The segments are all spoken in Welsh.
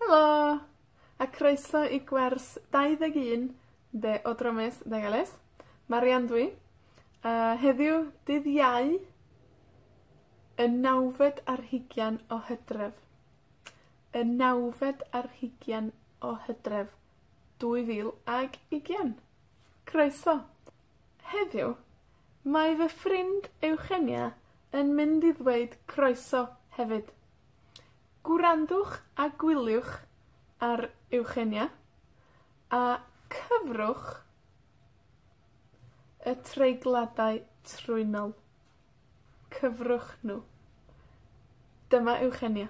Helo! A croeso i gwers dau ddeg un de o Dramys Nagales. Marian dw i, a heddiw, dydd Iau, y nawfed ar hugian o Hydref. Y nawfed ar hugian o Hydref, dwy fil ag ugian. Croeso! Heddiw, mae fy ffrind Eugenia yn mynd i ddweud croeso hefyd. Gwrandwch a gwyliwch ar Eugenia, a cyfrwch y treigladau trwynol. cyfrwch nhw. Dyma Eugenia.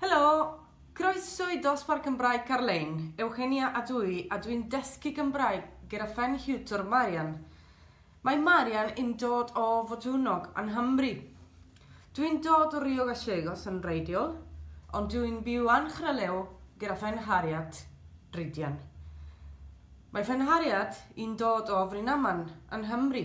Helo! Croeso i Dosbarth Gymraeg Carlein. Eugenia ydw i a dwi'n dysgu Gymraeg gyda phen hiwtor Marian. Mae Marian yn dod o Fodwnog yng Nghymru. Dwi'n dod o Rio Gallegos yn wreiddiol, ond dwi'n byw yn Chralew gyda phen Harriet, Rhydian. Mae phen Harriet yn dod o Frynaman yn Nghymru.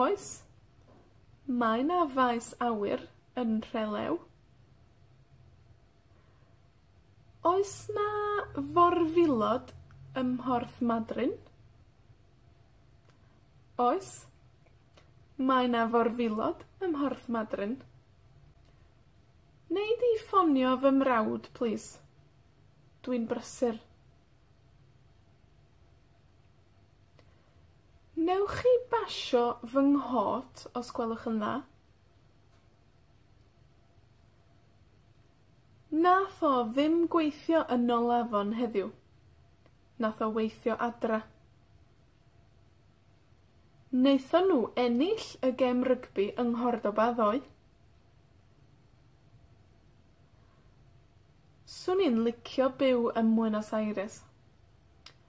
Oes. Mae 'na faes awyr yn Nhrelew. Oes 'na forwilod ym Mhorth Madryn? Oes. Mae 'na forwilod ym Mhorth Madryn. Nei di ffonio fy mrawd, plîs? Dwi'n brysur. Newch chi basio fy nghot, os gwelwch yn dda? Nath o ddim gweithio yn nol afon heddiw. Nath o weithio adra. Naethon nw ennill y gêm rygbi yng Nghordoba ddoe. Swn i'n licio byw ym Mbuenos Aires.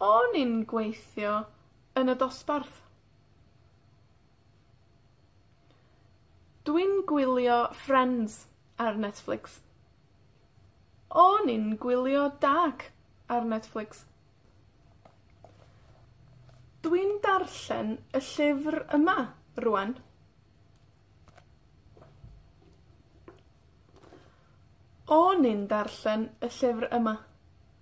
O'n i'n gweithio yn y dosbarth. Dwi'n gwylio Frens ar Netflix. O'n i'n gwylio Dark ar Netflix. Dwi'n darllen y llyfr yma rŵan. O'n i'n darllen y llyfr yma.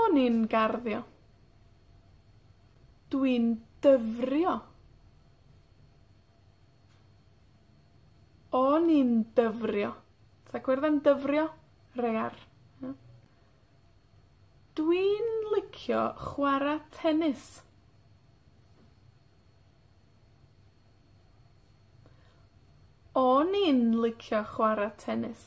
O'n i'n garddio. Dwi'n dyfrio. O'n i'n dyfrio. Dach chi'n gweld yn dyfrio? Rei ar. Ia? Dwi'n licio chwara tenis. O'n i'n licio chwara tenis.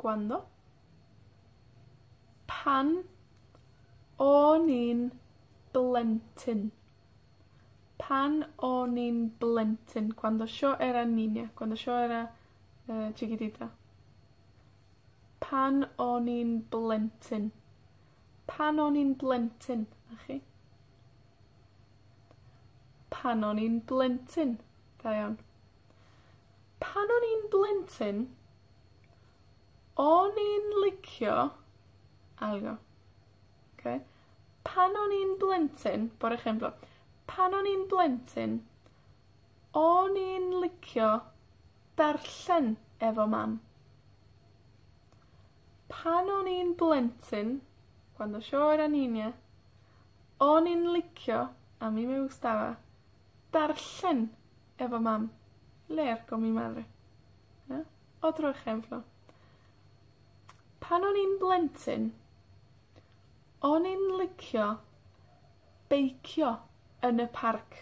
Gwrando. Pan o'n i'n blentyn. Pan o'n i'n blentyn. Cuando yo era niña. Cuando yo era yy chiquitita. Pan o'n i'n blentyn. Pan o'n i'n blentyn. 'Na chi. Pan o'n i'n blentyn. Da iawn. Pan o'n i'n blentyn, o'n i'n licio, ail, oce? Pan o'n i'n blentyn, bore Chwefror. Pan o'n i'n blentyn, o'n i'n licio darllen efo Mam. Pan o'n i'n blentyn, cuando yo era niña, o'n i'n licio, a mí me gustaba, darllen Efo Mam. Le'r go mi madre. Ia? O Drychenfro. Pan o'n i'n blentyn, o'n i'n licio beicio yn y parc.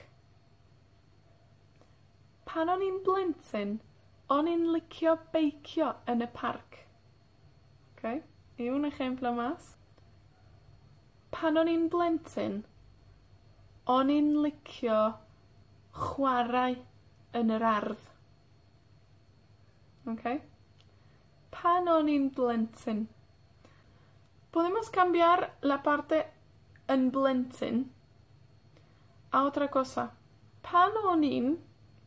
Pan o'n i'n blentyn, o'n i'n licio beicio yn y parc. Ok. I un esiampl o Màs. Pan o'n i'n blentyn, o'n i'n licio chwarae yn yr ardd. Ok? Pan o'n i'n blentyn. Podemos cambiar la parte yn blentyn a otra cosa. Pan o'n i'n,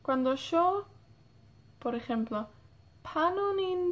cuando yo, por ejemplo, pan o'n i'n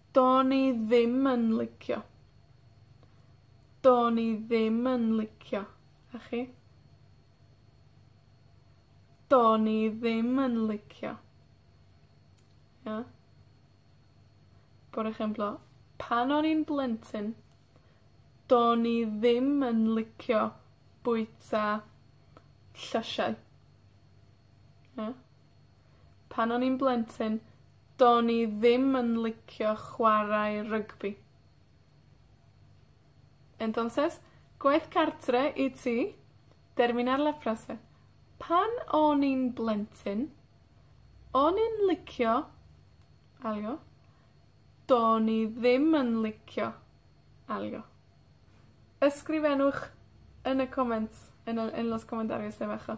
Do'n i ddim yn licio. Do'n i ddim yn licio. A chi? Do'n i ddim yn licio. Ia? Por ejemplo, pan o'n i'n blentyn, do'n i ddim yn licio bwyta llysiau. Ia? Pan o'n i'n blentyn, do'n i ddim yn licio chwarae rygbi. Entonces, gwaith cartre i ti, terminar la frase. Pan o'n i'n blentyn, o'n i'n licio, alw, do'n i ddim yn licio, alw. Ysgrifennwch yn y comments, yn y, en los comentarios, neu bach o